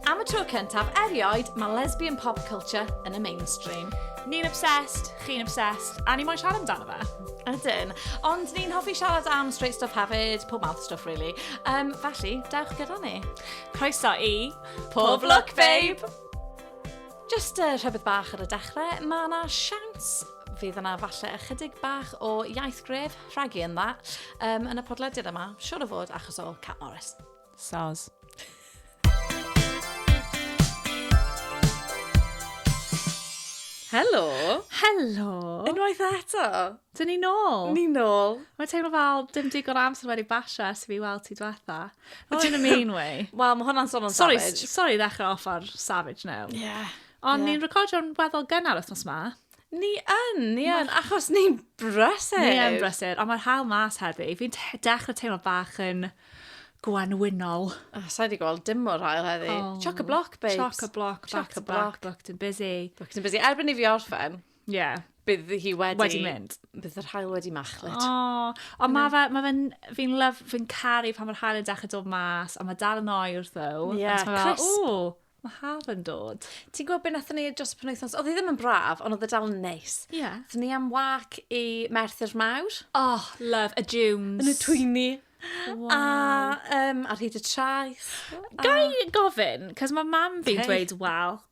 Am y tro cyntaf erioed, mae lesbian pop culture yn y mainstream. Ni'n obsessed, chi'n obsessed, a ni moyn siarad amdano fe. Ydyn. Ond ni'n hoffi siarad am straight stuff hefyd, pob mouth stuff really. Um, felly, dewch gyda ni. Croeso i... Pob Look Babe! Jyst uh, rhywbeth bach ar y dechrau, mae yna siawns fydd yna falle ychydig bach o iaith gref rhagu yn dda um, yn y podlediad yma, siwr o fod achos o Cat Morris. Soz. Helo! Helo! Unwaith eto! Dyn ni nôl! Ni nôl! Mae teimlo fel dim digon amser wedi basio ers i fi weld ti diwetha. Not in a mean way. Wel, mae hwnna'n son o'n sorry, savage. Sorry, ddechrau off ar savage now. Yeah. Ond yeah. ni'n recordio'n weddol gynnar wythnos ma. Ni yn, ni yn, achos ni'n brysur. Ni yn brysur, ond mae'r hael mas heddi. Fi'n dechrau teimlo bach yn gwanwynol. Oh, Sa'i wedi gweld dim o'r hael heddi. Oh, Choc-a-block, babes. Choc-a-block, back-to-back, booked and busy. Booked and busy. Erbyn i fi orffen, Ie. Bydd hi wedi... Wedi mynd. Bydd yr hael wedi machlud. O, ond mae fe, mae fe'n, fi'n lyf, fi'n caru pan mae'r hael yn dechrau dod mas, ond mae dal yn oer, though. Ie, yeah, crisp. O, mae hael yn dod. Ti'n gwybod beth nath ni dros y penwythnos? Oedd hi ddim yn braf, ond oedd y e dal yn neis. Ie. Yeah. Nath ni am wac i Merthyr Mawr. Oh, love, y dunes. Yn y twyni. Wow. A, um, ar hyd y traeth. Gai gofyn, cos mae mam fi'n dweud, wel,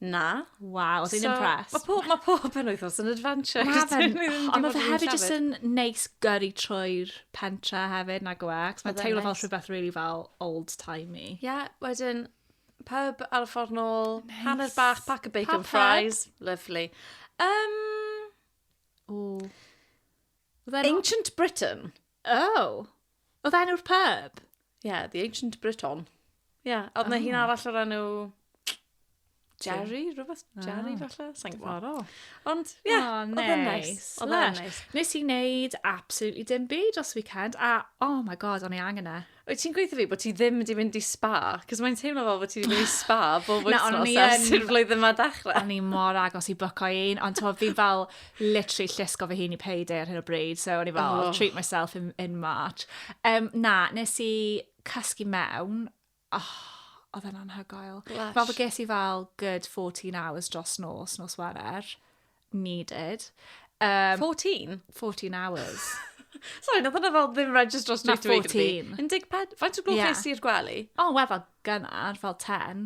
Na. Waw, dwi'n impressed. Mae pob, ma pob penwythnos yn adventure. Mae fe'n... Ond mae fe hefyd jyst yn neis gyrru trwy'r pentra hefyd, nag yw e? Cos mae'n teimlo fel rhywbeth really fel old-timey. Ie, yeah, wedyn pub ar y ffordd nôl, nice. hanner bach, pack of bacon Pap fries. Head. Lovely. Um, Ooh. Ancient Britain. Oh! Oedd enw'r pub? Yeah, the Ancient Briton. Yeah, oedd na hi'n arall o'r enw... Jerry, rhywbeth Jerry ah, falle? Sa'n gwybod. Ond, ie, yeah, oh, oedd yn neis. Oedd yn neis. Nes i wneud absolutely dim byd os weekend, a oh my god, o'n i angen e. Wyt ti'n gweithio fi bod ti ddim wedi mynd i spa? Cos mae'n teimlo fel bod ti wedi mynd i spa bob wythnos ers i'r flwyddyn yma dechrau. O'n i mor agos i bwco un, ond ti'n fi'n fel literally llusgo fy hun i payday ar hyn o bryd, so o'n i fel, oh. I'll treat myself in, in March. Um, na, nes i cysgu mewn, oh, oedd e'n anhygoel. Fel bod ges i fel good 14 hours dros nos, nos werer. needed. Um, 14? 14 hours. Sorry, nath hwnna fel ddim registro straight away. Na, 14. 14? Faint o gloch nes i'r gwely? O, oh, wel, fel gynnar, fel 10.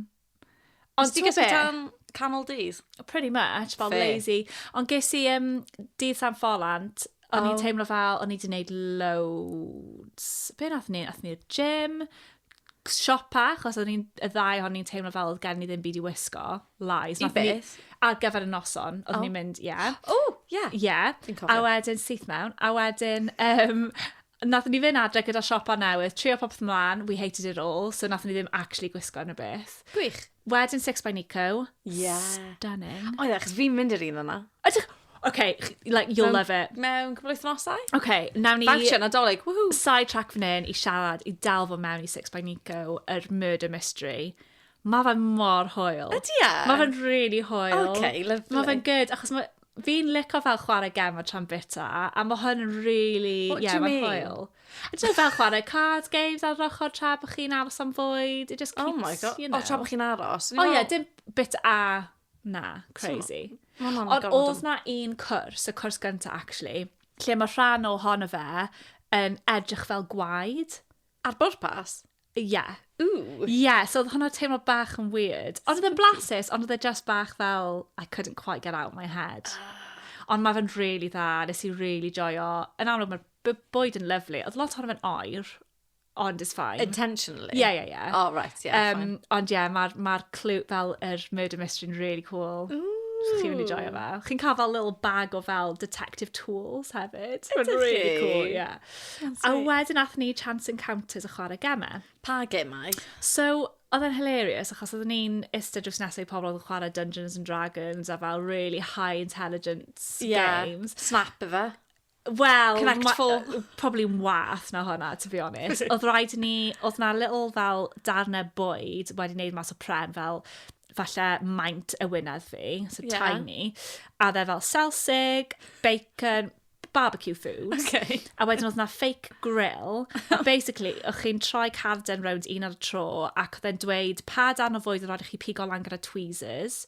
Ond ti'n gysgu tan canol dydd? Pretty much, fel Fair. lazy. Ond ges i um, dydd San Ffolant, o'n oh. i'n teimlo fel, o'n i wedi gwneud loads. Be nath ni? Nath ni'r gym, siopa, achos o'n ni'n, y ddau o'n ni'n teimlo fel oedd gen ni ddim byd i wisgo, lies. I beth? Ar gyfer y noson, oedd oh. ni'n mynd, ie. Yeah. O, oh, ie. Yeah. Ie. Yeah. A wedyn syth mewn, a wedyn, um, nath ni fynd adre gyda siopa newydd, trio popeth mlaen, we hated it all, so nath ni ddim actually gwisgo yn y beth. Gwych. Wedyn Six by Nico. Yeah. Stunning. Oedd e, achos fi'n mynd i'r un yna. Ydych, Okay, like, you'll love it. Mewn cwbl wythnosau? Okay, nawn ni... Dawnsio nadolig, woohoo! Side track fan hyn i siarad, i dal fo mewn i Six by Nico, yr murder mystery. Mae fe mor hoel. Ydy e? Mae fe'n really hoel. Okay, lovely. Mae fe'n good, achos mae... Fi'n licio fel chwarae gem o tran bita, a mae hwn yn really... What yeah, do you mean? Hoel. I don't know, fel chwarae card games ar yr ochr tra bod chi'n aros am fwyd. It just keeps, oh my God. you know. O, tra bod chi'n aros. O ie, dim bit a Na, crazy. Ond oedd na un cwrs, y cwrs gyntaf actually, lle mae rhan o hon o fe yn edrych fel gwaed. Ar bwrpas? Ie. Yeah. Ooh. Ie, yeah, so oedd hwnna teimlo bach yn weird. Ond oedd e'n blasus, ond oedd e just bach fel, I couldn't quite get out my head. Ah. Ond mae fe'n rili really dda, nes i rili really joio. Yn amlwg, mae'r bwyd yn lyflu. Oedd lot ohono fe'n oer, ond it's fine. Intentionally? Ie, ie, ie. Oh, right, ie, yeah, um, fine. Ond ie, yeah, mae'r ma clue fel yr er murder mystery yn really cool. Ooh. Chi'n mynd i joio fe. Chi'n cael fel little bag o fel detective tools hefyd. Mae'n really cool, ie. Yeah. A wedyn athyn ni Chance Encounters a chwarae gemau. Pa gemau? So, oedd e'n hilarious achos oedd ni'n istedd drws nesau i pobl oedd yn chwarae Dungeons and Dragons a fel really high intelligence yeah. games. Snap efe. Wel, Connect ma- Four. yy, probably wath na hwnna, to be honest. Oedd rhaid i ni, oedd na little fel darnau bwyd wedi wneud mas o pren fel falle maint y wynedd fi, so Ie. tiny. A oedd e fel selsig, bacon, barbecue food. Okay. A wedyn oedd na fake grill. A basically, o'ch chi'n troi carden rownd un ar y tro, ac oedd e'n dweud pa darn o fwyd oedd rhaid i chi pigo lan gyda tweezers.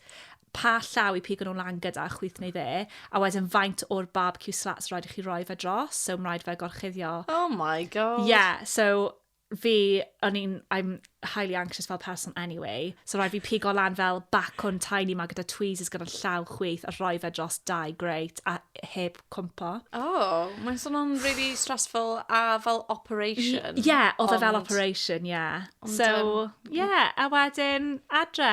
pa llaw i pigo nhw lan gyda, chwith neu dde, a wedyn faint o'r barbecue slats rhaid i chi roi fe dros, so mae'n rhaid fe gorchuddio. Oh my god. Yeah, so fi, o'n i'n, I'm highly anxious fel person anyway, so rhaid fi pigo lan fel bacwn tiny ma gyda tweezers gyda'r llaw chwith a rhoi fe dros dau grate a heb cwmpo. Oh, mae'n swnio'n really stressful a fel operation. Ie, yeah, oedd e fel operation, ie. Yeah. So, ie, yeah, a wedyn adre.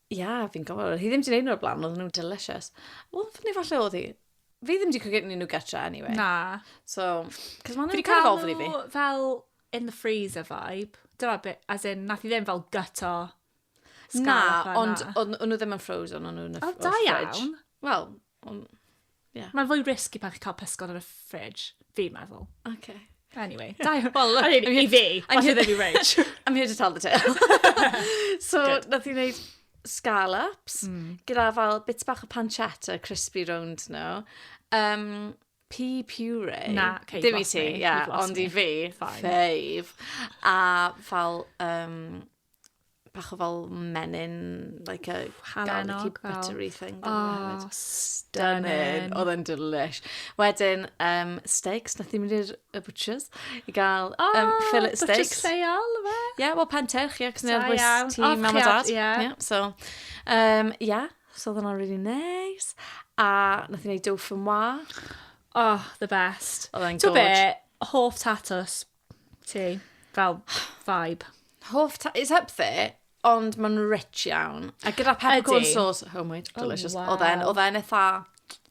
Ie, yeah, fi'n gofod. Oedd hi ddim wedi gwneud nhw o'r blaen, oedd nhw'n delicious. Wel, neu falle oedd hi. Fi ddim wedi cwgynnu nhw gytra, anyway. Na. So, cos maen nhw'n cael ofn i fi. fel in the freezer vibe. Dyna bit, as in, nath i ddim fel gyto. Na, ond o'n nhw ddim yn frozen, o'n nhw'n y fridge. O, da iawn. Wel, Ond, ie. Mae'n fwy risky pan chi'n cael pysgod yn y fridge, fi'n meddwl. Okay. Anyway, da i... Wel, look, I mean, i fi, I'm here to be rich. I'm here to tell the tale. so, Good. nath i wneud scallops, mm. gyda fel bits bach o pancetta, crispy round nhw. No? Um, pea puree. Na, okay, Dim i ti, ie, yeah, ond i fi, fave. A fel um, bach o fel menyn, like a gwahanol, like a buttery thing. Oh, stunning. Oedd yn delish. Wedyn, um, steaks, nath i mynd i'r butchers i gael oh, um, fillet steaks. Butchers lleol, fe? Ie, yeah, wel Penteirch, ie, cos ni'n bwys ti, mam a dad. Ie, so, um, yeah, so oedd hwnna'n really nice. A nath i wneud dough from wa. Oh, the best. Oedd e'n gorge. Ti'n be, hoff tatws Ti, fel vibe. Hoff ta... It's up there, ond mae'n rich iawn. A gyda peppercorn Ydi. sauce, oh my, delicious. waw. Oedd e'n, oedd e'n eitha,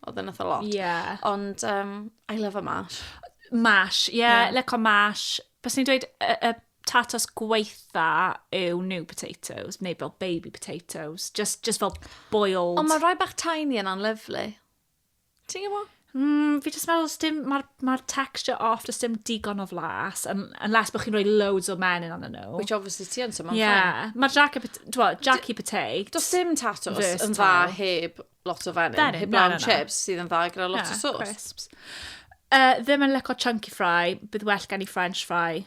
oedd e'n eitha lot. Ie. Ond, um, I love a mash. Mash, ie, yeah, Ie. lico mash. Bys ni'n dweud y, y tatos gweitha yw new potatoes, neu fel baby potatoes, just, just fel boiled. Ond mae rhai bach tiny yna'n lyflu. Ti'n gwbo? Mm, fi jyst meddwl, dim, mae'r ma texture off, jyst dim digon o flas, un, unless bod chi'n rhoi loads o menyn anna nhw. Which obviously ti yn, so mae'n yeah. fine. Ie, mae'r Jackie, dwa, Jackie Potato. Does dim tatos yn dda heb lot o fenyn, Fenyn, heb na, lawn na, na. chips sydd yn dda gyda lot o Yeah, sauce. crisps. Uh, ddim yn lyco chunky fry, bydd well gen i french fry.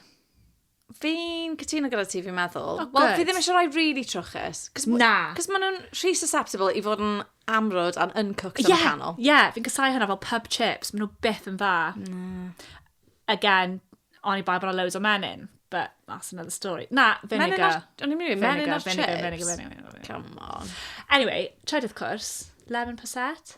Fi'n cytuno gyda ti, fi'n meddwl. Oh, Wel, fi ddim eisiau rhoi really trwchus. Na. Cos maen nhw'n rhy susceptible i fod yn amrwd a'n uncooked yeah, yn y canol. Ie, yeah, fi'n casau hynna fel pub chips. Maen nhw beth yn dda. Mm. Again, oni bai bod loads o menyn. But that's another story. Na, vinegar. Menyn ar... O'n i'n mynd, menyn ar chips. Vinegar, vinegar, vinegar, vinegar. Come on. Anyway, trydydd cwrs, lemon posset.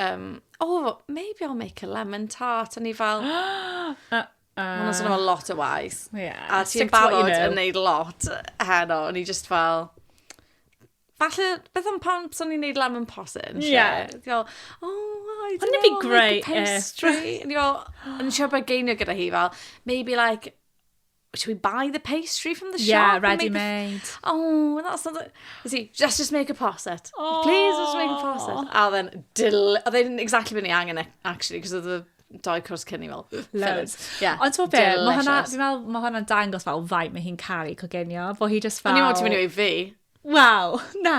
Um, oh, maybe I'll make a lemon tart. O'n i fel... uh, Mae'n swnio fel lot o waith. Yeah, a ti'n barod you know. yn neud lot heno. O'n i just fel... Falle, beth am pan swn i'n neud lemon possin? Yeah. Fel, oh, I don't know, be great, like a pastry. Yeah. O'n i fel, o'n i siarad bod geinio gyda hi fel, maybe like should we buy the pastry from the shop? Yeah, ready made. The... Oh, that's not the... Is he, let's just make a posset. Oh. Please, let's make a posset. A then, dill... Oedd e'n exactly beth ni angen, e, actually, because of the dau cwrs cyn i fel. Loads. Yeah. Ond ti'n beth, mae hwnna, fi'n meddwl, mae hwnna'n dangos fel faint mae hi'n caru cogenio, fo hi just fel... Ond ni'n meddwl ti'n mynd i fi. Wow, na.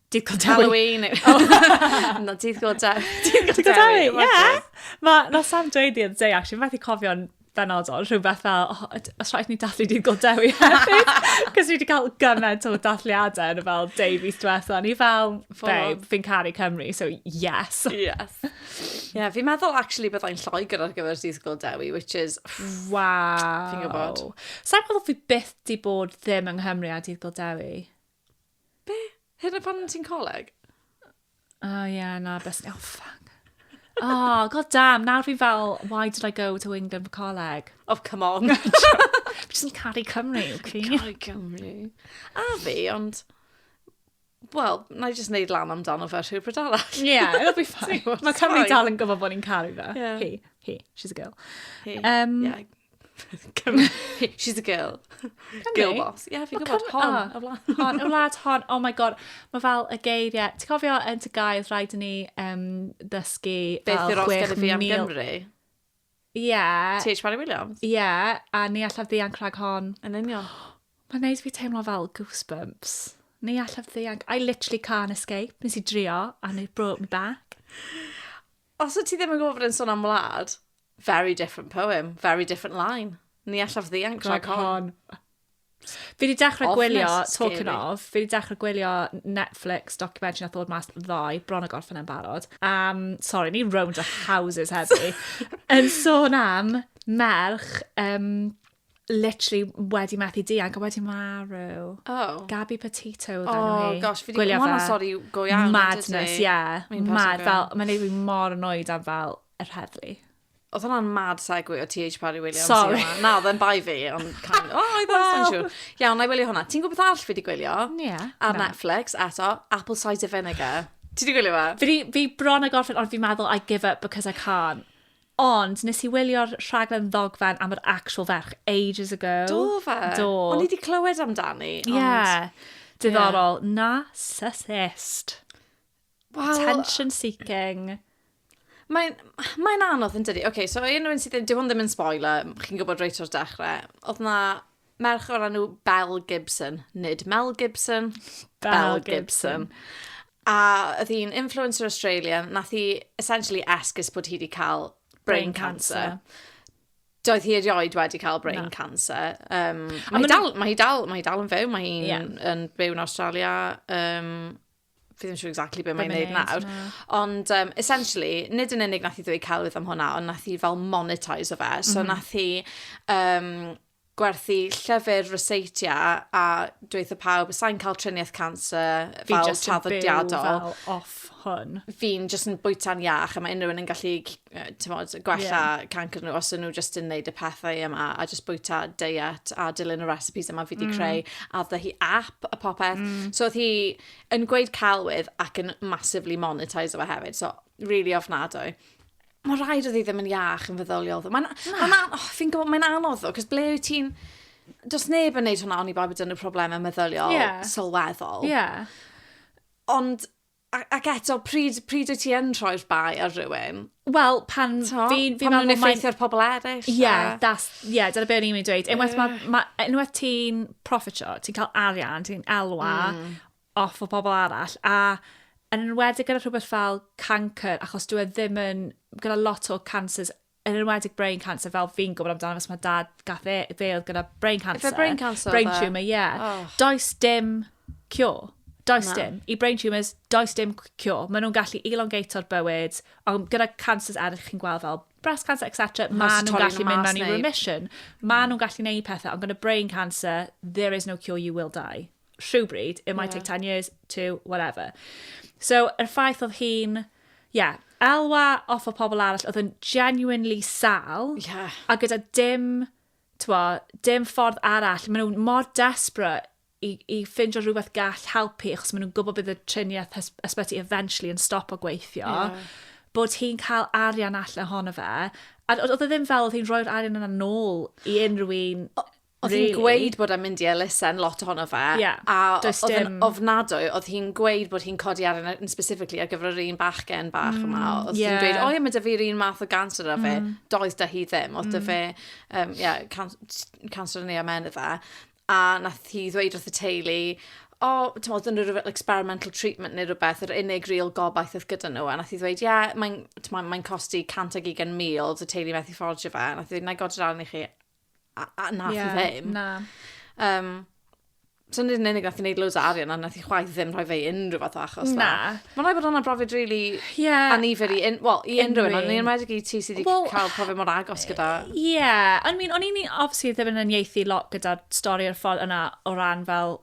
Dydd Go Dewi. Halloween. Na, dydd Go Dewi. Dydd Go Dewi, ie. Mae na Sam dweud the other day, actually, mae wedi cofio'n benodol, rhywbeth fel, oh, os rhaid ni dathlu dydd Go Dewi hefyd. Cos ni wedi cael gymaint o dathliadau yn fel Davies diwetha. Ni fel, babe, fi'n caru Cymru, so yes. Yes. Ie, yeah, fi'n meddwl, actually, byddai'n lloegr ar gyfer dydd Go Dewi, which is... Wow. Fi'n gwybod. Sa'n meddwl fi byth di bod ddim yng Nghymru a dydd Go Dewi. Be? Hyd yn oed pan ti'n coleg? O oh, ie, yeah, na, best... Oh, fuck. Oh, god damn, nawr fi fel, why did I go to England for coleg? Oh, come on. Fi jyst yn caru Cymru, Cri. Caru Cymru. A fi, ond... Wel, na i jyst neud lan amdano fe rhyw bryd arall. Ie, yeah, it'll be fine. Mae Cymru dal yn gwybod bod ni'n caru fe. Yeah. Hi, hi, she's a girl. Hi, um, yeah. She's a girl. Cymru? Girl boss. Ie, yeah, fi'n gwybod. Hon, oh, y wlad. Hon, y wlad hon. Oh my god. Mae fel y geiriau. Ti'n cofio yn ty gael rhaid ni um, dysgu Beth yw'r os gennym fi am Gymru? Ie. Yeah. T.H. Parry Williams? Ie, yeah, a ni allaf ddianc rhag hon. Yn union. Mae'n neud fi teimlo fel goosebumps. Ni allaf ddianc. I literally can't escape. Nes i drio, and it brought me back. Os wyt ti ddim yn gwybod bod e'n sôn am wlad, very different poem, very different line. Ni allaf ddianc trac hon. Fi wedi dechrau gwylio, talking of, fi wedi dechrau gwylio Netflix documentary na ddod mas ddoe, bron o gorffen e'n barod. Um, sorry, ni round a houses heddi. yn sôn am merch um, literally wedi methu dianc, a wedi marw. Oh. Gabby Petito oedd enw hi. Oh gosh, fi wedi gwneud hwnna sori go iawn. Madness, ie. Yeah. Mad, fel, mae'n neud fi mor annoyed am fel y rheddlu. Oedd hwnna'n mad segwi o TH Parry Williams. Sorry. Na, oedd e'n bai fi, ond can... O, oh, I don't well. sure. Iawn, na i wylio hwnna. Ti'n gwybod beth all fi wedi gwylio? Ie. Yeah, Ar no. Netflix, eto, Apple Cider Vinegar. Ti wedi gwylio fe? Fi, fi bron a gorffen, ond fi'n meddwl I give up because I can't. Ond nes i wylio'r rhaglen ddogfen am yr actual ferch ages ago. Do fe? Do. O'n i 'di clywed amdani, ond... Ie. Diddorol. Yeah. Narcissist. Wel... Attention seeking. Mae'n mae anodd yn dydi? OK, so unrhyw un sydd ddim... Dyw hwn ddim yn spoiler, chi'n gwybod reit o'r dechrau. Oedd na Merch o'r enw Belle Gibson, nid Mel Gibson, Belle Gibson. A oedd hi'n influencer Australian, nath hi essentially esgus bod hi wedi cael brain, brain cancer. cancer. Doedd hi erioed wedi cael brain no. cancer. Um, mae, hi dal, mae hi dal, mae hi dal yn fyw, mae hi'n yeah. yn byw yn Australia. Um, fi ddim siŵr exactly beth mae'n neud nawr. No. Ond um, essentially, nid yn unig nath i ddweud celwydd am hwnna, ond nath i fel monetize o fe. So mm -hmm. nath i um, gwerthu llyfr Rosacea a dweud pawb, sa'n cael triniaeth cancer fel traddodiadol. Fi just yn byw fel off hwn. Fi'n just yn bwyta'n iach a mae unrhyw un yn gallu mod, gwella yeah. cancer nhw os nhw just yn neud y pethau yma a just bwyta diet a dilyn y recipes yma fi wedi mm. creu a dda hi app a popeth. Mm. So oedd hi yn gweud celwydd ac yn massively monetise o fe hefyd. So really ofnadwy. Mae rhaid oedd hi ddim yn iach yn feddyliol. ddo. Mae'n... Na. Mae'n... an- Oh, fi'n gwybod, mae'n anodd ddo, cos ble wyt ti'n... Does neb yn neud hwnna oni bai bod yn y problemau meddyliol Ie. sylweddol. Ie. Ond, a- ac eto, pryd, pryd wyt ti yn rhoi'r bai ar rywun? Wel, pan T'mo'? fi... fi Pan ma'n nhw'n meddwl mae'n- effeithio ar pobl eraill. Ie, a- yeah, that's, yeah, dyna beth o'n i'n mynd i dweud. Unwaith, ma, ma, unwaith ti'n profitio, ti'n cael arian, ti'n elwa, mm. off o pobl arall a yn enwedig gyda rhywbeth fel cancer achos dwi e ddim yn gyda lot o cancers yn enwedig brain cancer fel fi'n gwybod amdano fes mae dad gath e fe oedd gyda brain cancer. Efe brain cancer? Brain e? tumour, ie. Yeah. Oh. Does dim cure. Does no. dim. I brain tumours, does dim cure. Maen nhw'n gallu elongato'r bywyd, ond gyda cancers eraill chi'n gweld fel breast cancer, etc. Maen nhw'n gallu mynd mewn i remission. Maen nhw'n gallu neud pethau, ond gyda brain cancer, there is no cure, you will die. rhywbryd, it might yeah. take 10 years, two, whatever. So, yr ffaith oedd hi'n, yeah, elwa off o pobl arall, oedd yn genuinely sal, yeah. a gyda dim, twa, dim ffordd arall, maen nhw'n mor desperate i, i ffindio rhywbeth gall helpu, achos maen nhw'n gwybod bydd y triniaeth ysbyty eventually yn stop o gweithio, yeah. bod hi'n cael arian allan ohono fe, a oedd e ddim fel oedd hi'n rhoi'r arian yna nôl i unrhyw un Oedd hi'n gweud bod e'n mynd i elusen, lot ohono fe. Yeah, a does oedd yn ofnadwy, oedd hi'n gweud bod hi'n codi ar yn specifically ar gyfer yr un bachgen bach mm, yma. Oedd yeah. hi'n gweud, o ie, mae dy fi'r un math o ganser yna fe. Mm. Doedd da hi ddim. Oedd mm. dy fe, um, yeah, can cancer yn ei amen y fe. A nath hi ddweud wrth y teulu, o, oh, ti'n modd, yn rhywbeth experimental treatment neu rhywbeth, yr unig real gobaith oedd gyda nhw. A nath i ddweud, ie, yeah, mae'n mae, mae costi 120,000, y teulu methu ffordio fe. A nath i ddweud, na i godio'r arni chi, A, a nath yeah, i ddim. Na. Um, so nid yn unig nath i wneud loads o arian a nath i chwaith ddim rhoi fe i unrhyw fath o achos na. Mae'n rhaid bod hwnna brofiad really yeah. anifyr i, un, well, i unrhyw un, ond ni'n rhaid i ti sydd wedi well, cael profiad mor agos gyda. Ie, yeah. I mean, o'n i'n obviously ddim yn unieithu lot gyda'r stori o'r ffordd yna o ran fel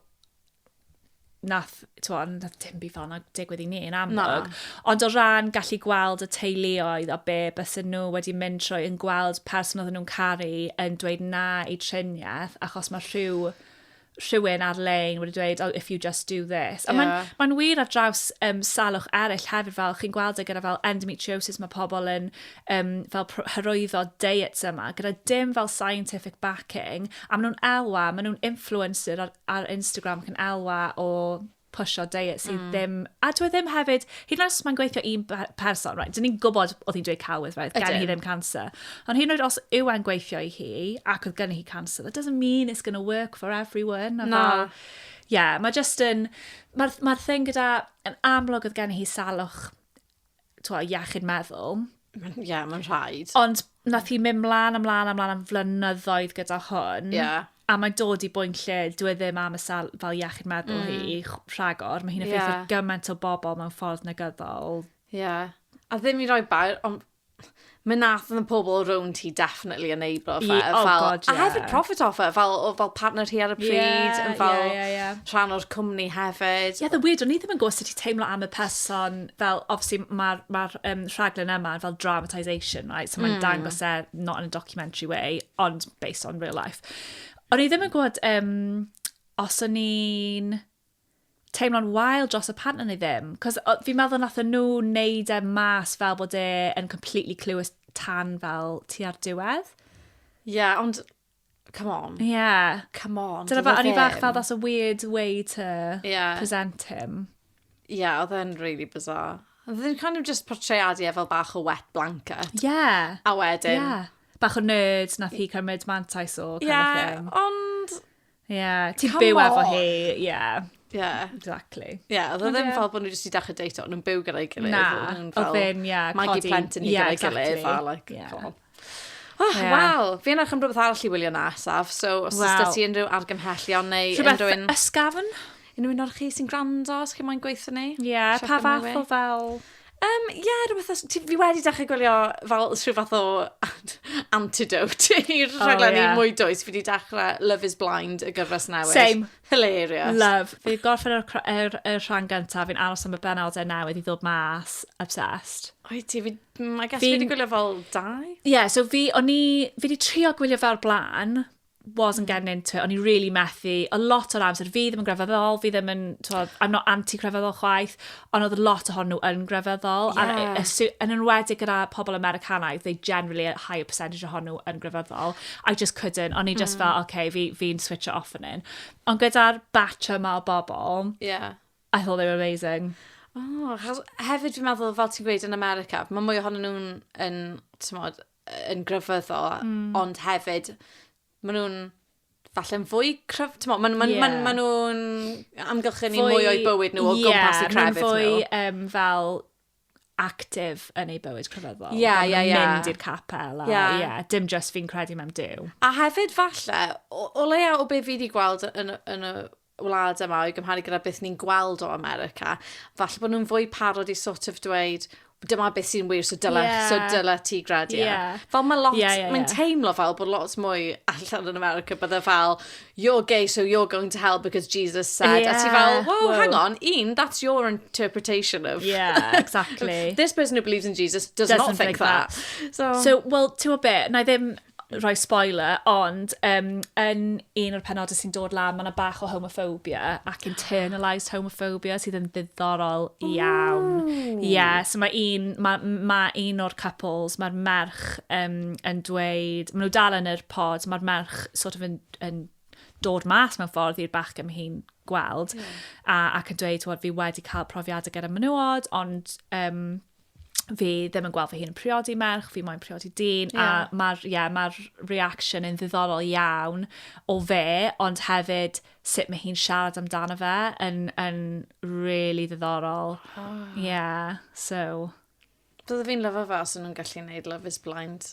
nath, twa, nath dim byd fel yna digwydd i ni yn amlwg. Ond o ran gallu gweld y teuluoedd a be bys nhw wedi mynd trwy yn gweld person oedden nhw'n caru yn dweud na i triniaeth achos mae rhyw rhywun ar-lein wedi dweud, oh, if you just do this. Yeah. mae'n ma um, fel hyrwyddo diets yma, gyda dim fel scientific backing, a maen nhw'n elwa, maen nhw'n influencer ar, ar Instagram ac yn elwa o pwysio diet sydd mm. ddim... A dwi e ddim hefyd, hyd yn oes mae'n gweithio un person, right, dyn ni'n gwybod oedd hi'n dweud cawydd, right, gen hi ddim cancer. Ond hyd yn oed os yw e'n gweithio i hi ac oedd gen hi cancer, that doesn't mean it's going to work for everyone. Na. No. Ie, yeah, mae just yn... Mae'r ma thing gyda... Yn amlwg oedd gen hi salwch twa, iechyd meddwl. Ie, yeah, mae'n rhaid. Ond nath hi mynd mlaen, ymlaen, ymlaen am flynyddoedd gyda hwn. Ie. Yeah. A mae'n dod i bwynt lle, dwi e ddim am y sal fel iechyd meddwl mm. hi, rhagor. Mae hi'n effeithio yeah. gymaint o bobl mewn ffordd negyddol. Ie. Yeah. A ddim i roi bair, ond Mi nath y pobl rownd hi definitely enablo fe. Ie, oh fel, God, A ie. hefyd profit off it, fel, oedd fel partner hi ar y pryd, Ie, yn fel ie, ie, ie. rhan o'r cwmni hefyd. Ie, the weird, o'n i ddim yn gwybod sut i teimlo am y person, fel, obviously, mae'r ma um, rhaglen yma yn fel dramatisation, right? So mae'n dangos e, not in a documentary way, ond based on real life. O'n i ddim yn gwybod um, os o'n i'n teimlo'n wael dros y pan o'n i ddim. Cos fi'n meddwl nath nhw wneud e mas fel bod e yn completely clueless tan fel ti ar diwedd. Ie, yeah, ond come on. Ie. Yeah. Come on. Dyna fa, o'n i fach fel that's a weird way to yeah. present him. Ie, yeah, oedd e'n really bizarre. Oedd e'n kind of just portrayadu e fel bach o wet blanket. Ie. Yeah. A wedyn. Ie. Yeah. Bach o nerd nath hi cymryd mantais o kind yeah, of thing. Ie, ond Ie, ti'n Come byw efo on. hi, ie, Ie. exactly. Ie, oedd o Ond ddim ie. fel bod nhw jyst i dechrau deito, ond nhw'n byw gyda'i gilydd. Na, oedd nhw'n oedd fel ddim, ie, Magu codi- plentyn i ie, gyda'i gilydd, exactly. fel, like, Ie. come on. Oh, Ie. Wel, fi yn edrych am rhywbeth arall i wylio nesaf, so os oes Wel. da ti unrhyw argymhellion neu Rhywbeth unrhyw un... ysgafn? Un o unor chi sy'n gwrando, os chi moyn gweithio ni. Ie, yeah, pa fath o fel... Um, ie, yeah, rhywbeth os... Fi wedi dechrau gwylio fel rhyw fath o antidote i'r oh, rhaglen yeah. mwy dwys. Fi wedi dechrau Love is Blind y gyfres newydd. Same. Hilarious. Love. Fi wedi gorffen yr, yr, yr rhan gyntaf, fi'n aros am y benodau newydd i ddod mas. Obsessed. Oi ti, fi, I guess fi wedi gwylio fel dau? Ie, yeah, so fi, o'n i, fi wedi trio gwylio fel blaen, wasn't getting into it, o'n i really methu, o lot o'r amser, fi ddim yn grefyddol, fi ddim yn, twod, I'm not anti-grefyddol chwaith, ond oedd lot o hon nhw yn grefyddol, yeah. a, yn enwedig gyda pobl Americanaidd, they generally a higher percentage o hon nhw yn grefyddol, I just couldn't, o'n i just mm. fel, okay, fi'n fi, fi switch it off yn un. Ond gyda'r batch yma o bobl, yeah. I thought they were amazing. Oh, hefyd fi'n meddwl, fel ti'n gweud yn America, mae mwy ohonyn nhw'n yn, tymod, yn grefyddo, mm. ond hefyd, maen nhw'n falle'n fwy cryf... Mo, maen ma, yeah. ma, ma nhw'n amgylchynu fwy, mwy o'i bywyd nhw o yeah, gwmpas i crefydd nhw. Ie, fwy um, fel actif yn ei bywyd crefyddol. Ie, yeah, ie, yeah, ie. Yeah. Mynd i'r capel. Ie. Yeah. Yeah, dim just fi'n credu mewn dew. A hefyd falle, o, o leia o be fi wedi gweld yn, yn y wlad yma o'i gymharu gyda beth ni'n gweld o America, falle bod nhw'n fwy parod i sort of dweud, dyma beth sy'n wir, so dyla, yeah. so dyla ti gredu. Yeah. Yeah. Fel mae lot, yeah, yeah, yeah. mae'n teimlo fel bod lot mwy allan yn America, bydde fel, you're gay, so you're going to hell because Jesus said. Yeah. A ti fel, whoa, whoa, hang on, un, that's your interpretation of... Yeah, exactly. this person who believes in Jesus does Doesn't not think, think that. that. So, so well, ti'n gwybod beth, na i ddim rhoi spoiler, ond um, yn un o'r penodau sy'n dod lan, mae yna bach o homophobia ac internalised homophobia sydd yn ddiddorol iawn. Ie, yeah, so mae un, ma, ma un o'r couples, mae'r merch um, yn dweud, maen nhw dal yn yr pod, mae'r merch sort of yn, yn dod mas mewn ffordd i'r bach gym hi'n gweld, yeah. a, ac yn dweud, fi wedi cael profiadau gyda menywod, ond um, fi ddim yn gweld fy hun yn priodi merch, fi moyn priodi dyn, yeah. a mae'r yeah, ma reaction yn ddiddorol iawn o fe, ond hefyd sut mae hi'n siarad amdano fe yn, yn really ddiddorol. Oh. Yeah, so... Byddai fi'n lyfo fe os nhw'n gallu gwneud Love is Blind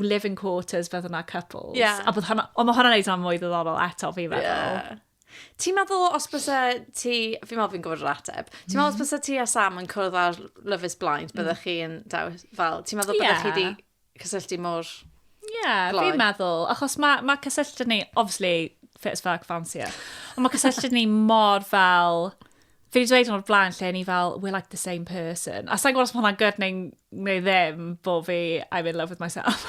live-in quarters beth yna couples. Yeah. A bod hwnna, ond mae hwnna'n neud hwnna'n mwy ddiddorol eto fi'n meddwl. Yeah. Ti'n meddwl os bysa ti, fi'n meddwl fi'n gwybod yr ateb, ti'n meddwl os mm. bysa ti a Sam yn cwrdd ar Love is Blind, byddech mm. chi'n dewis fel, ti'n meddwl byddech chi di cysylltu mor Ie, yeah, fi'n meddwl, achos mae ma cysylltu ni, obviously, fit as fuck, fancy it, ond mae cysylltu ni mor fel, fi wedi dweud o'r blaen lle ni fel, we're like the same person. A sa'n gwybod os mae hwnna'n good neu, neu ddim, bo fi, I'm in love with myself.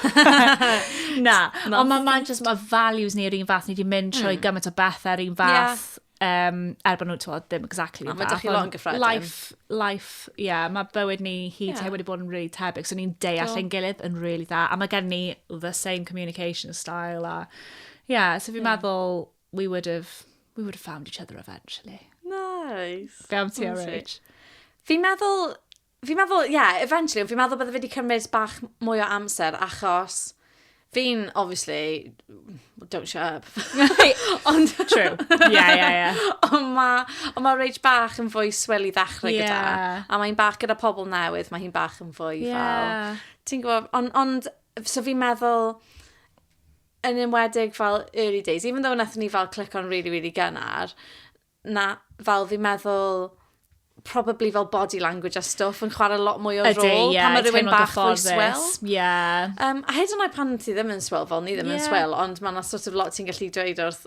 Na, ond mae ma just, mae values ni yr un fath, ni wedi mynd trwy mm. gymaint o bethau yr un fath. Yeah. Um, er bod nhw, ti'n ddim exactly yn fath. Ond gyffredin. Life, life, ie, yeah, mae bywyd ni hi yeah. te wedi bod yn really tebyg, so ni'n deall yn gilydd yn really dda. A mae gen ni the same communication style a, ie, yeah, so fi'n yeah. meddwl, we would have, we would have found each other eventually. Nice. Be am ti, Rach? Fi'n meddwl, fi'n meddwl, ie, yeah, eventually, fi'n meddwl bydde wedi cymryd bach mwy o amser achos fi'n, obviously, don't shut up. Ond... True. Ie, ie, ie. Ond mae on ma Rach bach yn fwy swell i ddechrau yeah. gyda. A mae'n bach gyda pobl newydd, mae hi'n bach yn fwy yeah. fel... Ti'n gwybod, ond, on, so fi'n meddwl yn enwedig fel early days, even though nath ni fel click on really, really gynnar, na fel fi'n meddwl probably fel body language a stuff yn chwarae lot mwy o rôl. Ydy, ie. Pan mae rhywun bach fwy swell. Ie. Um, a hyd yn oed pan ti ddim yn swell, fel ni ddim yeah. yn swell, ond mae yna sort of lot ti'n gallu dweud wrth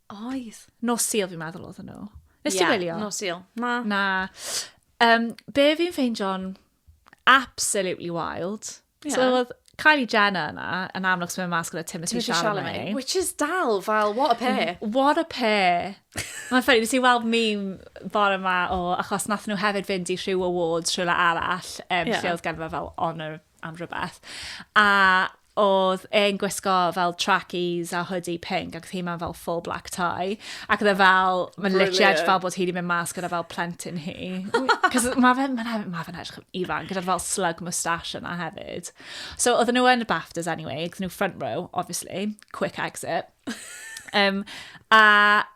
Oedd. Nos Sul, fi'n meddwl oedd nhw. Nes yeah, ti wylio? Nos Sul. Na. Na. Um, be fi'n ffeindio'n absolutely wild. Yeah. So oedd Kylie Jenner yna, yn amlwg sy'n mynd mas gyda Timothy, Timothy Chalamet. Chalamet. Which is dal fel, what a pair. Mm, what a pair. Mae'n ffynnu, nes i weld meme bore yma o, achos nath nhw hefyd fynd i rhyw awards rhywle arall, um, yeah. lle oedd gen fel honor am rhywbeth. A oedd e'n gwisgo fel trackies a hoodie pink ac oedd hi mewn fel full black tie ac oedd e fel, mae'n literally fel bod hi wedi mynd mas gyda fel plentyn hi cos mae fe'n ma fe, ma fe edrych yn ifan gyda'r fel slug moustache yna hefyd so oedd nhw yn y BAFTAs anyway oedd nhw front row obviously quick exit um, a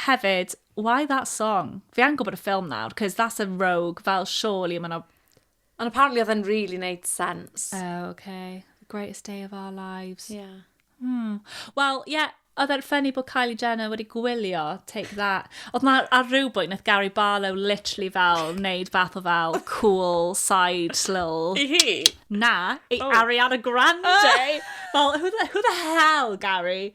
Hefyd, why that song? Fi angen gwybod y ffilm nawr, cos that's a rogue, fel surely mae yna... Ond apparently oedd e'n really neud sense. Oh, okay. The greatest day of our lives. Yeah. Hmm. Wel, ie, yeah, oedd e'n ffynnu bod Kylie Jenner wedi gwylio Take That. Oedd na ar rhywbwynt, nath Gary Barlow literally fel neud fath o fel cool side little... I hi? Na, i oh. Ariana Grande. Oh. Fel, who the, who the hell, Gary?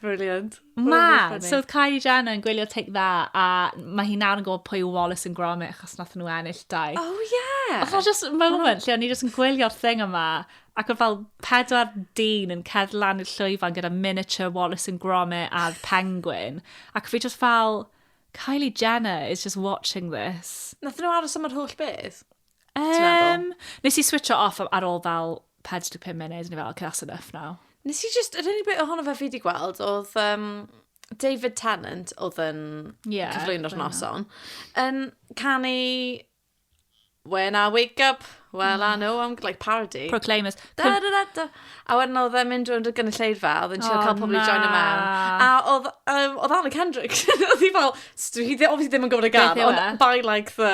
Brilliant. Ma! So oedd Kylie Jenner yn gwylio Take That a mae hi nawr yn gwybod pwy yw Wallace and Gromit achos nath nhw ennill dau. Oh yeah! Oedd o'n just moment lle o'n i just yn gwylio'r thing yma ac oedd fel pedwar dyn yn cedd lan i'r llwyfan gyda miniature Wallace and Gromit a'r penguin ac fi just fel Kylie Jenner is just watching this. Nath nhw aros am yr holl beth? Um, nes i switcho off ar ôl fel 45 munud, neu fel, okay, that's enough now. Nes i just, yr unig beth ohono fe fi wedi gweld, oedd um, David Tennant, oedd yn yeah, cyflwyno'r noson, yn canu When I wake up, well, I know I'm like parody. Proclaimers. Da, da, da, da. A wedyn oedd e'n mynd rwy'n y gynulleidfa, oedd e'n siarad oh, cael pobl i join y mewn. A oedd, um, oedd Anna Kendrick, oedd hi fel, dwi ddim yn gwybod y gan, ond e? by like the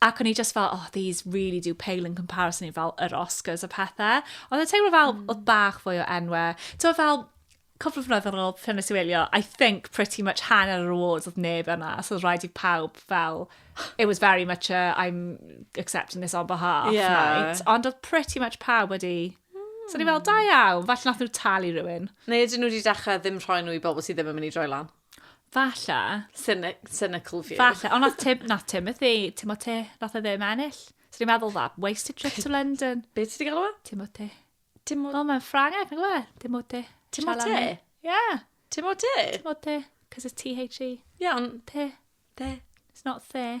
Ac o'n i just fel, oh, these really do pale in comparison i fel yr Oscars a pethau. Ond y teimlo fel, mm. oedd bach fwy o enwau. Ti'n fel, cwpl o flynyddoedd yn ôl, pan nes i wylio, I think pretty much hanner yr awards oedd neb yna, so oedd rhaid i pawb fel, it was very much a, I'm accepting this on behalf yeah. night. Ond oedd pretty much pawb wedi So ni fel, da iawn, falle nath nhw talu rhywun. Neu ydyn nhw wedi dechrau ddim rhoi nhw i bobl sydd ddim yn mynd i droi lan. Falle. Cynical view. Falle, ond nath Tim, nath Tim y thi, Tim o ti, nath e ddim ennill. So ni'n meddwl dda, wasted trip to London. Be ti di gael o? Tim o ti. Tim o... O, mae'n Ffrangeg, nag e? Tim o ti. Tim o ti? Ie. Tim o ti? Tim o ti. Cos it's T-H-E. Ie, ond... Ti. Ti. It's not the.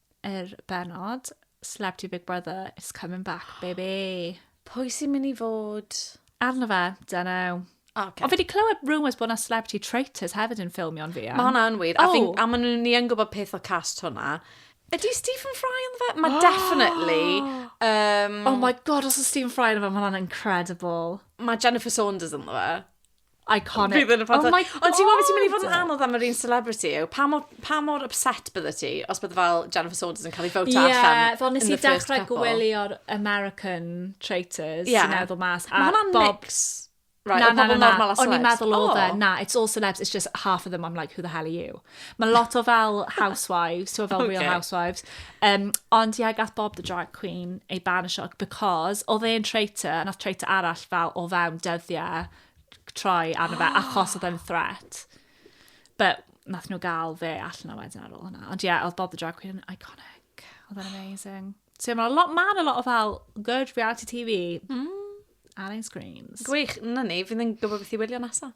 yr benod, Celebrity Big Brother is coming back, baby. Pwy sy'n mynd i fod? Arno fe, dyna. Okay. Ond fi wedi clywed rumours bod yna celebrity traitors hefyd yn ffilmio'n fi. Mae hwnna'n wir. Oh. A, fi, a maen nhw'n ni yn gwybod peth o cast hwnna. Ydy Stephen Fry yn fe? Mae oh. definitely. Um, oh my god, os yw Stephen Fry yn fe, mae hwnna'n incredible. Mae Jennifer Saunders yn fe. Iconic. Fydd yn y ffantastig. Oh my god! Ond ti'n gwybod beth sy'n mynd i fod yn anodd am yr un celebrity yw? Pa mor, pa mor upset bydde ti os bydde fel Jennifer Saunders yn cael ei fawta yeah, allan? Ie, fel nes i dechrau gwylio'r American Traitors yeah. sy'n meddwl mas. Mae hwnna'n Bob... Right, na, na, na, na. O'n i'n meddwl o oh. fe, na, it's all celebs, it's just half of them, I'm like, who the hell are you? Mae lot o fel housewives, ti'n fel okay. real housewives. Um, ond ie, yeah, gath Bob the drag queen ei ban y sioc, because oedd e'n traitor, nath traitor arall fel o fewn dyddiau troi arno fe, achos oedd e'n threat. But nath nhw gael fe allan o wedyn ar ôl hwnna. Ond ie, yeah, oedd Bob the drag queen yn iconic. Oedd e'n amazing. So mae'n lot, ma a lot o fel good reality TV mm. ar ein screens. Gwych, na ni, fydd yn gwybod beth i wylio nesaf.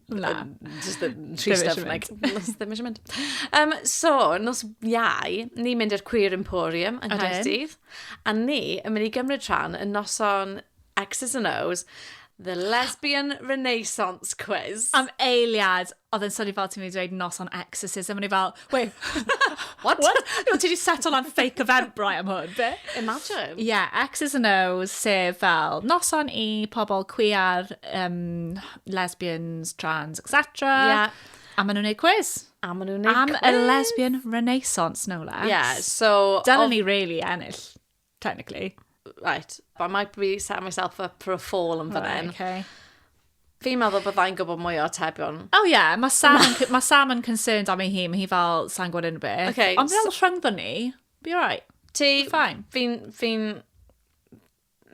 Na. Just yn trist am like, nos ddim eisiau mynd. Um, so, nos iau, ni'n mynd i'r Queer Emporium yng Nghaerdydd. A ni yn mynd i gymryd rhan yn noson X's and O's, The Lesbian Renaissance Quiz. Am eiliad, oedd yn swnio fel ti'n mynd i dweud noson exorcism, o'n i fel, Wait, what? what? Ti wedi set on fake event brai am hwn, be? Imagine. Yeah, X's and O's, sef fel noson i pobl queer, um, lesbians, trans, etc. Yeah. A maen nhw'n gwneud quiz. A maen nhw'n gwneud quiz. Am y lesbian renaissance, no less. Yeah, so... Dyna ni really ennill. Technically. Right, but I might be setting myself up for a fall yn fan hyn. Okay. Fi'n meddwl byddai'n gwybod mwy o atebion. Oh yeah, mae Sam, yn, ma Sam yn concerned am ei hun, mae hi fel, sa'n gwybod unrhyw beth. Okay, Ond fel rhyngddon ni, be alright. Ti, Fine. fi'n, fi'n,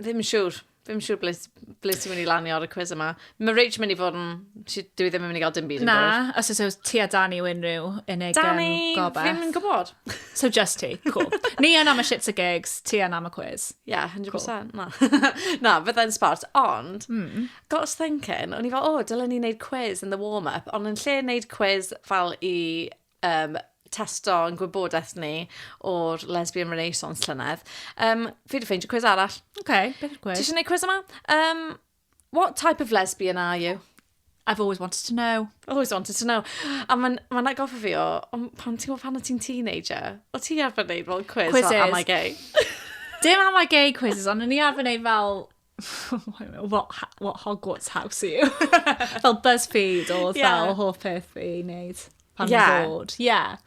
ddim yn siŵr. Fi'n siŵr ble, ble ti'n mynd i lanio ar y cwiz yma. Mae Rach mynd i fod yn... Dwi ddim yn mynd i gael dim byd yn Na, os oes oes ti a Danny yw unrhyw unig Danny, um, gobeth. Danny, fi'n gwybod. So just ti, cool. Ni yn am y shits a gigs, ti yn am y quiz. Yeah, 100%. Cool. Na, na byddai'n sport. Ond, mm. got us thinking, o'n i fel, o, oh, dylen ni wneud quiz in the warm-up, ond yn lle wneud quiz fel i um, testo yn gwybodaeth ni o'r Lesbian Renaissance llynedd. Um, fi wedi ffeindio cwiz arall. Oce, okay, beth yw'r cwiz? Ti eisiau gwneud cwiz yma? Um, what type of lesbian are you? I've always wanted to know. Always wanted to know. A mae'n ma agoffa fi o, pan ti'n gwybod pan o ti'n teenager, o ti arfer wneud fel quiz Quizzes. fel am I gay? Dim am I gay quizzes, ond o'n i arfer wneud fel what, what Hogwarts house are you? fel BuzzFeed oedd yeah. fel hoff peth fi i wneud pan yeah. i'n bod. Yeah.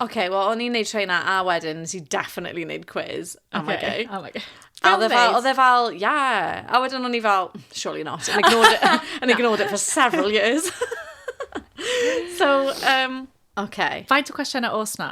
Oce, okay, wel, o'n i'n neud treina a wedyn nes i definitely neud quiz am okay. gay. Am gay. A oedd e fel, oedd e fel, yeah. A wedyn o'n i fel, surely not. And ignored it, and ignored it for several years. so, um, okay. Faint o cwestiynau os na?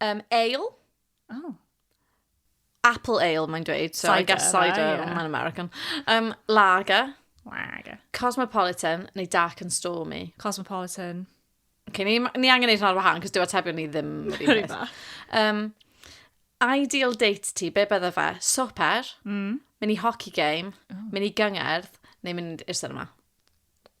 Um, ale. Oh. Apple ale, mae'n dweud. So cider, I guess cider, right, yeah. mae'n American. Um, lager. Lager. Cosmopolitan, neu dark and stormy. Cosmopolitan. Okay, ni, ni angen neud hwnna ar wahan, cos dyw atebion ni ddim yr un Um, ideal date ti, be bydde fe? Swper, mm. mynd i hockey game, oh. mynd i gyngerdd, neu mynd i'r cinema?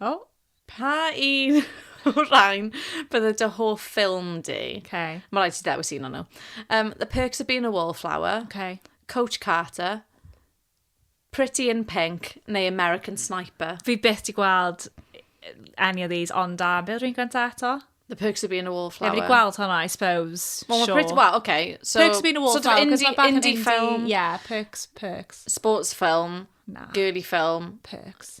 O! Pa un o'r rhain bydde dy hoff ffilm di? Okay. Mae rhaid ti dewis un o'n nhw. Um, The Perks of Being a Wallflower, Okay. Coach Carter, Pretty in Pink neu American Sniper. Fi byth di gweld any of these ond da. Be oedd rhywun gyntaf eto? The Perks of Being a Wallflower. Ie, fi wedi gweld hwnna, I suppose. Wel, mae Sure. Pretty... Wel, oce. So, Perks of being a wallflower. Sort of 'cause indie, mae bach yn indie film, Yeah, perks, perks. sports film, Na. girly film, Perks.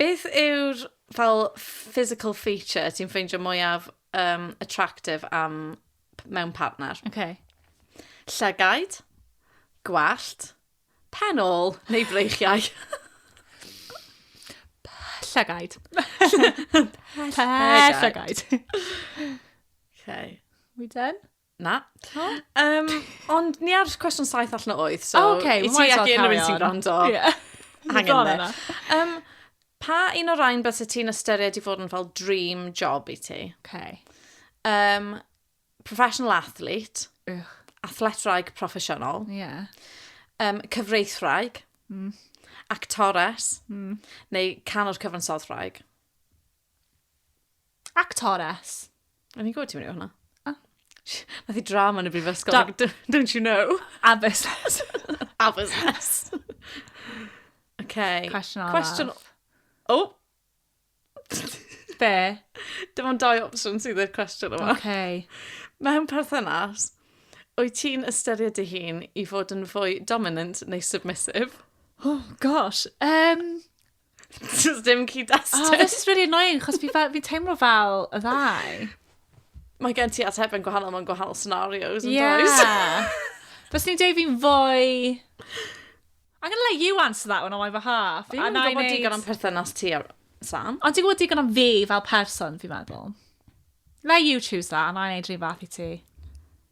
Beth yw'r fel physical feature ti'n ffeindio mwyaf um, attractive am mewn partner? Okay. Llygaid, gwallt, pen ôl neu breichiau? Llygaid. Llygaid. okay. We done? Na. No? Um, ond ni ar cwestiwn saith allan o oed, so... Oh, okay, I ti ac unrhyw un sy'n gwrando. Yeah. Hang in there. Um, pa un o'r rhain beth ti'n ystyried i fod yn fel dream job i ti? Okay. Um, professional athlete. Ugh. Athletwraig proffesiynol. Yeah. Um, cyfreithwraig. Mm. Actores. Mm. Neu canwr cyfansodwraig. Actores. O'n i'n gwybod ti'n mynd i hwnna. Ah. Nath i drama yn y brifysgol. Da- d- don't you know? Addysgless. Addysgless. okay. Cwestiwn arall. Cwestiwn... O! Oh. Be? Dim ond dau opsiwn sydd i'r cwestiwn yma. Okay. Mewn perthynas, wyt ti'n ystyried dy hun i fod yn fwy dominant neu submissive? Oh, gosh. Um, Just dim cyd destun. Oh, this is really annoying, chos fi, fi teimlo fel y ddau. Mae gen ti atebion gwahanol mewn gwahanol scenarios, yn yeah. does? Fes ni'n dweud fi'n fwy... I'm gonna let you answer that one on my behalf. Fi'n gwybod digon am perthynas ti ar Sam. Ond ti'n gwybod digon am fi fel person, fi'n meddwl. Let you choose that, and I'll neud rhywbeth i ti.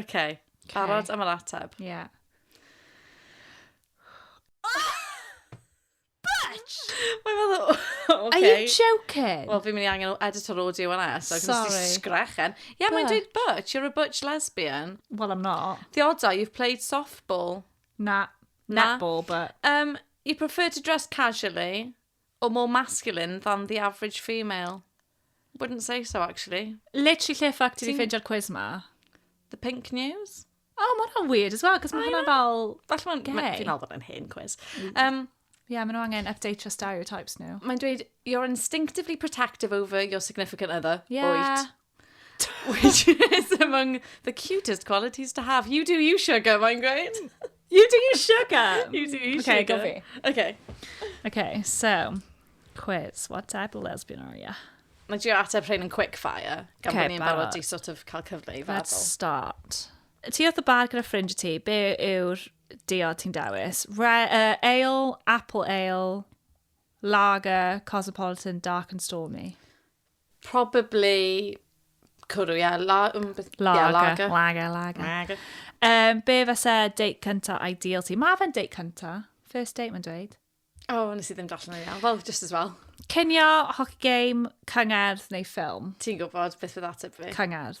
OK. Barod am yr ateb? Ie. Yeah. Bitch! Mae'n meddwl, OK. Are you joking? Wel, fi'n mynd i angen o editor audio yna, so Sorry. Sorry. Sorry. sgrechen. Ie, yeah, mae'n dweud butch, you're a butch lesbian. Well, I'm not. Theodau, you've played softball. Na. Na. Netball, but... Um, you prefer to dress casually. Or more masculine than the average female. Wouldn't say so, actually. Literally lle ffac ti wedi ffeindio'r quiz ma? The pink news? O, oh, mae'n weird as well, cos mae hwnna fel... Falle mae'n... Fi'n meddwl bod yn hen quiz. Um, Ie, yeah, maen nhw angen update your stereotypes nhw. Mae'n dweud, you're instinctively protective over your significant other. Yeah. Wyt. Which is among the cutest qualities to have. You do you, sugar, mae'n gweud. You do you, sugar. you do you, okay, sugar. Okay, go Okay. Okay, so, quiz. What type of lesbian are you? Mae dwi ateb rhain yn quick fire, gan okay, bod ni'n barod i sort of cael cyfle i feddwl. Let's start. Ti oedd y bar gyda ffrind ti, be yw'r diod ti'n dewis? Re, uh, ale, apple ale, lager, cosmopolitan, dark and stormy. Probably cwrw, ie. La, um, beth, lager. Yeah, lager. Lager, lager. lager. Um, be fysa date cynta ideal ti? Mae fe'n date cynta. First date, mae'n dweud. O, oh, nes i ddim darllen o'n iawn. Wel, just as well. Cynio, hockey game, cyngerdd neu ffilm? Ti'n gwybod beth fydd ateb fi? Cyngerdd.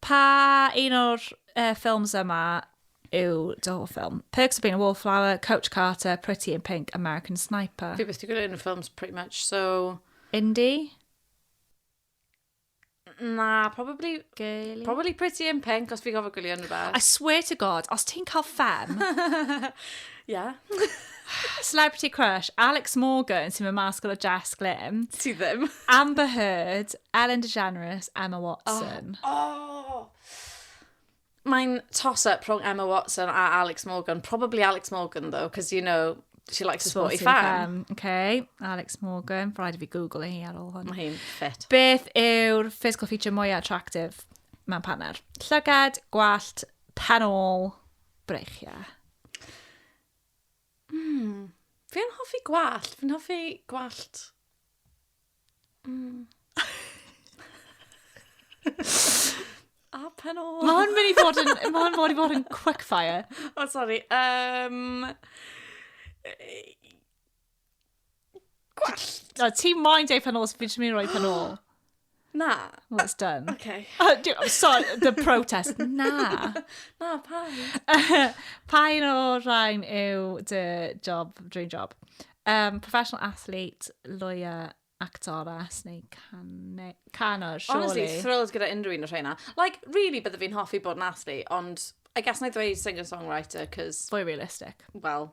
Pa un o'r uh, ffilms yma yw dy hoff ffilm? Perks of Being a Wallflower, Coach Carter, Pretty in Pink, American Sniper. Fi beth i gwneud yn y ffilms pretty much, so... Indie? Na, probably... Girly? Probably Pretty in Pink, os fi gofio gwylio yn rhywbeth. I swear to God, os ti'n cael ffem... yeah. Celebrity crush, Alex Morgan, sy'n mynd mas gyda Jess Glynn. Ti ddim. Amber Heard, Ellen DeGeneres, Emma Watson. O! Oh, oh. Mae'n toss-up rhwng Emma Watson a Alex Morgan. Probably Alex Morgan, though, because, you know, she likes a sporty fan. Okay, Alex Morgan. Rhaid i fi Google hi ar ôl hwn. Mae hi'n ffit. Beth yw'r physical feature mwyaf attractive mewn paner? Llygad, gwallt, penol, breichiau. Mm. Fi'n hoffi gwallt. Fi'n hoffi gwallt... Mm. A pen o... Mae hwn mynd i fod yn... Mae hwn mynd i fod yn quickfire. O, oh, sori. Um, Gwellt! Na, ti moyn deud pan ôl, so fi jyst mynd i roi pan ôl. Na. Well, it's done. Okay. Uh, do, sorry, the protest. Na. Na, pa un? pa un o'r rhain yw dy job, dream job? Um, professional athlete, lawyer, actores neu cane, canwr, surely. Honestly, thrilled gyda unrhyw un o'r rhaina. Like, really, bydde fi'n hoffi bod yn athlete, ond I guess na i ddweud singer-songwriter, cos... Fwy realistic. Well,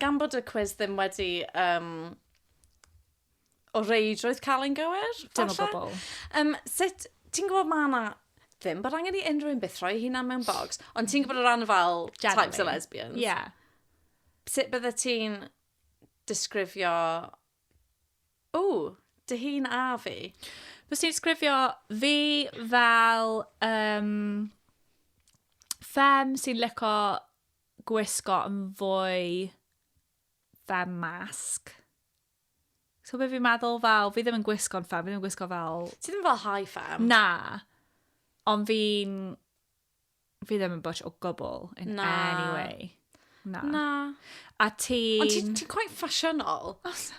Gan bod y cwis ddim wedi um, o reidrwydd cael ein gywir, falle? Dim o bobl. Um, sut, ti'n gwybod mae yna ddim bod angen i unrhyw un byth rhoi hunan mewn bogs, ond ti'n gwybod o ran fel Generally. types o lesbians? Ie. Yeah. Sut bydde ti'n disgrifio... O, dy hun a fi? Fes ti'n disgrifio fi fel um, fem sy'n lyco gwisgo yn fwy fe masg. So beth fi'n meddwl fel, fi ddim yn gwisgo'n ffem, fi ddim yn gwisgo fel... Ti ddim fel high fem? Na. Ond fi'n... Fi ddim yn bwtch o gwbl in Na. any way. Na. Na. A ti... Ond ti'n ti quite ffasiynol. Os!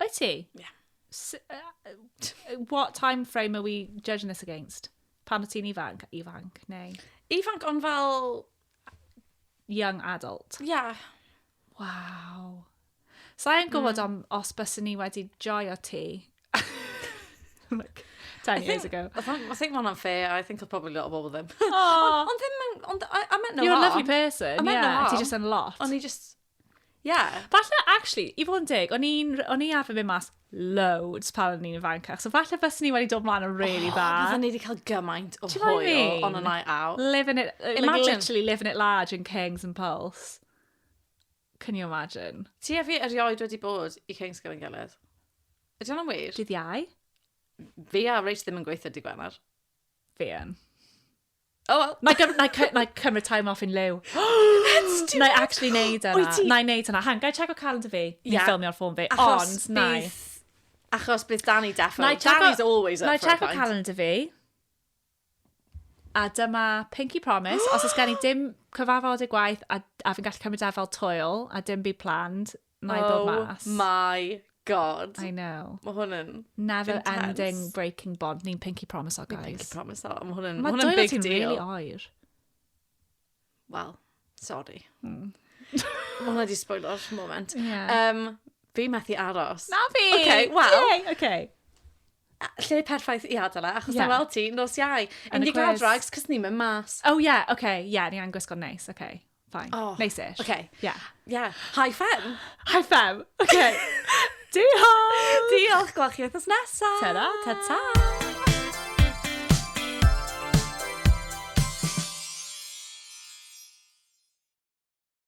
Wyt ti? Ie. Yeah. S uh, what time frame are we judging this against? Pan o ti'n ifanc? Ifanc, neu? Ifanc, ond fel... Young adult? Ie. Yeah. Wow. So i'n gwybod mm. am os bysyn ni wedi joio ti. like, 10 I years think, ago. I think, I think one unfair. I think I'll probably lot of bobl them. Ond ddim... Ond, I, I meant no You're harm. a lovely person, I meant yeah. No harm. Ti just yn lot. Ond i just... Ie. Falle, actually, i fod yn deg, o'n i'n r- o'n i arfer mynd mas loads pan o'n i'n ifanc, so falle fyswn i wedi dod mlaen yn really dda. Fydden ni wedi cael gymaint o Ti'n gwbod hwyl be I mean? on a night out. Living it, like, Imagine. literally living it large in Kings and Pulse. Can you imagine? Ti a fi erioed wedi bod i Kings gyda'n gilydd. Ydy hwnna'n wir? Dydd Iau? Fi a Rach ddim yn gweithio dy Gwener. Fi yn. Oh, well. Na i cymryd time off yn liw. Let's do it! Na i actually neud yna. Na i neud yna. Hang, gai check o calendar fi? Ni'n ffilmio ar ffôn fi. Ond, na i. Achos bydd Danny defo. Danny's always up for a pint. Na i check o calendar fi. A dyma Pinky Promise. Os oes gen i dim cyfarfod y gwaith a, a fi'n gallu cymryd e fel toil a dim byd planned, Mae'n dod mas. Oh my god. I know. Mae hwn yn Never intense. ending breaking bond. Ni'n pinky promise o, guys. Pinky promise o. Mae hwn yn, ma hwn yn big deal. Mae dwylo ti'n really oer. Wel, sorry. Mm. Mae hwnna di spoilo'r moment. Yeah. Um, fi methu aros. Na fi! Okay, well. Yay, okay lle perffaith i adael e, achos yeah. weld ti nos iau. Yn y gweld drags, cos ni'n mynd mas. Oh yeah, okay, yeah, ni angen gwisgo neis, okay. Fine. Oh, Neisish. Okay. Yeah. Yeah. Hi fem. Hi fem. Okay. Diolch! Diolch, gweld chi wythnos nesaf! Ta-ra! Ta-ta!